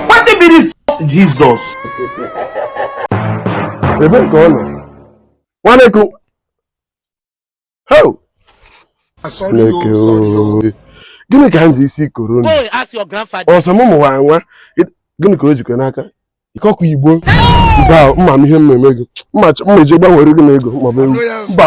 Wetin be this Jesus? Ebe ka ọ nọ. Nwanne ku. Ho! Chineke ooo. Gịnị ka m ji isi koro unu? Ọ sọ m mụwa nwa. Gịnị ka o jikọ n'aka? Ikọkwa Igbo. Mba, mma m ihe m na-eme gị. Mma eji gbanwere gị n'ego maọbụ ewu. Mba.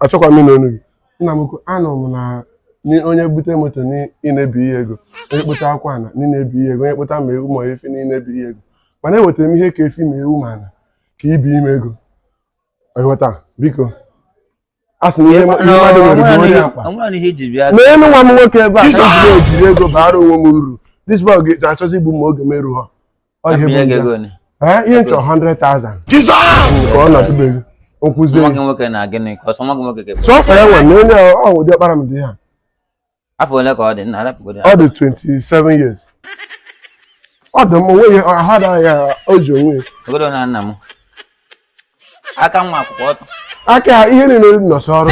achọkwa m ịnụ ọnụ gị nna m ukwu anụ m na onye bute moto na ị na-ebinye ego onye kpụta akwa na ị na-ebinye ego onye kpụta ma ewu ma efi na ị na-ebinye ego mana ewetara m ihe ka efi ma ewu ma ana ka i binye m ego ghọta biko a sị na ihe ma- ihe mmadụ nwere bụ onye akpa onwere ihe iji bịa mee nwa m nwoke ebe a ka m jiri ejiri ego baara onwe m uru this boy ga-achọzi igbu m oge m erughọ Ọ ihe bụ Ihe ndị a. ga-ego ni. Ee, ihe m chọ 100,000 ka ọ nọtụbeghị okwuzie Nwa gị nwoke na gịnị ka ọ sọ nwa gị nwoke ga-ekwe. sọsọ ya nwe na onye ọ ụdị ọkpara m dị ha Afọ ole ka ọ dị? Nna rapụgodu ya. ọ dị 27 years ọ dị m onweghị ahụ adaghị ya o ji onwe ya. Ogodo na nna m. Aka na ụkwụ kwụ ọtọ. aka ya ihe niile dị n'ọsọ ọrụ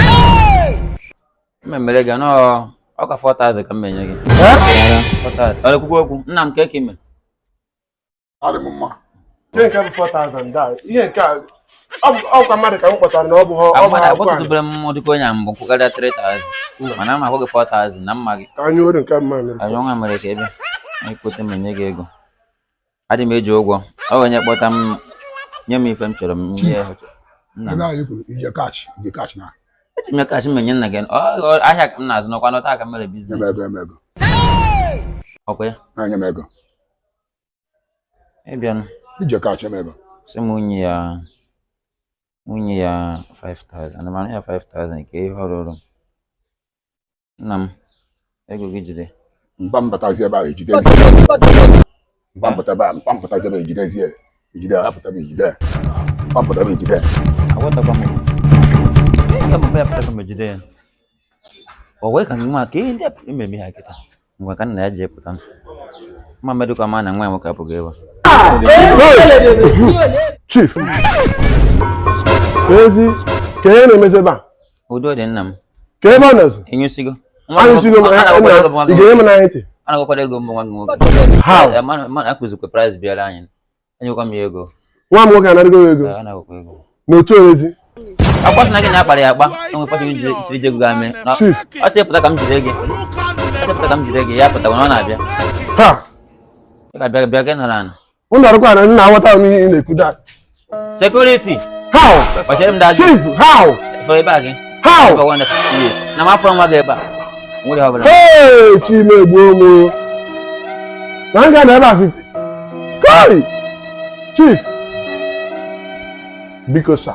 mmemmere gị nọ ọ ka 4000 ka m ma-enye gị 4000 ọ na-ekwukwa okwu nna m ka eke mere adị m mma Ihe nke bụ 4,000 da. Ihe nke a ọ bụ- ọ kwa mmadụ ka m kpọtara na ọ bụha ọ bụha ọkụkọ a. agbọtụtụbere m dịka onye a mbụ kwụkarịa 3000 mana m akwụ gị 4000 na m ma gị Ka anyị were nke mma mere. anyị ọnwa mere ka ebe anyị kweta m enye gị ego adị m eji ụgwọ ọ onye kpọta m nye m ife m chọrọ m nye ya nna m eji m ya cash m enye nna gị ahịa ka m na-azụ n'ọkwa n'ọta aka mere business ọkwa ya ịbịanụ sị m mụ nye ya mụ nye ya 5000 mana ya 5000 ka ihe ọrụ ọrụ nna m ego gị jide mba mbatazi ebe ahụ ejide mba mbata ebe a mba mbatazi ebe ejidezie ejide ya hapụta ebe ejide ya mba mbata ebe ejide ya agwatakwa m ya mba ya pụtakwa m ejide ya o wee ka nwa ka ihe ndị a pụrụ imebi ha kịta ngwa ka nna ya ji epụta mma medụkwa ma na nwa ya nwoke apụghị ebe chief ezi ka ihe na-emezi ebe a Udo dị nna m. Ka ebe ọ nọzi? Ịnyụsigo. Anyụsigo m, eh, ị ga-enye m n'anya ntị. A na-agwakwara ego mbụ nwa gị nwoke. How? Eh, mana akụzikwa price bịara anyị. Enyekwa m ya ego. Nwa m nwoke anarigo ego. Eh, Anagokwa ego. N'otu orezi. Ọkwa sị na gị na-akpara ya akpa, enwe kwasị gị jiri jiri ego ga-eme. Ọ sị pụta ka m jide gị. Ọ sị pụta ka m jide gị, ya pụta ọ na-abịa. Ha! Ị ga-abịa bịa gị nara anụ. Unu arụkwa na nna aghọta m ihe ị na-ekwu da. Security. How? Gbachere m daa gị. Chief, how? Fọrọ ebe a gị. How? Ebe ọgwa ndekọ years. Na m afọ nwa gị ebe a. Nwere ihe ọbụla. Hey, Chi m egbuo m. Na m ga na ebe a 50. Koi! Chief. Biko sa.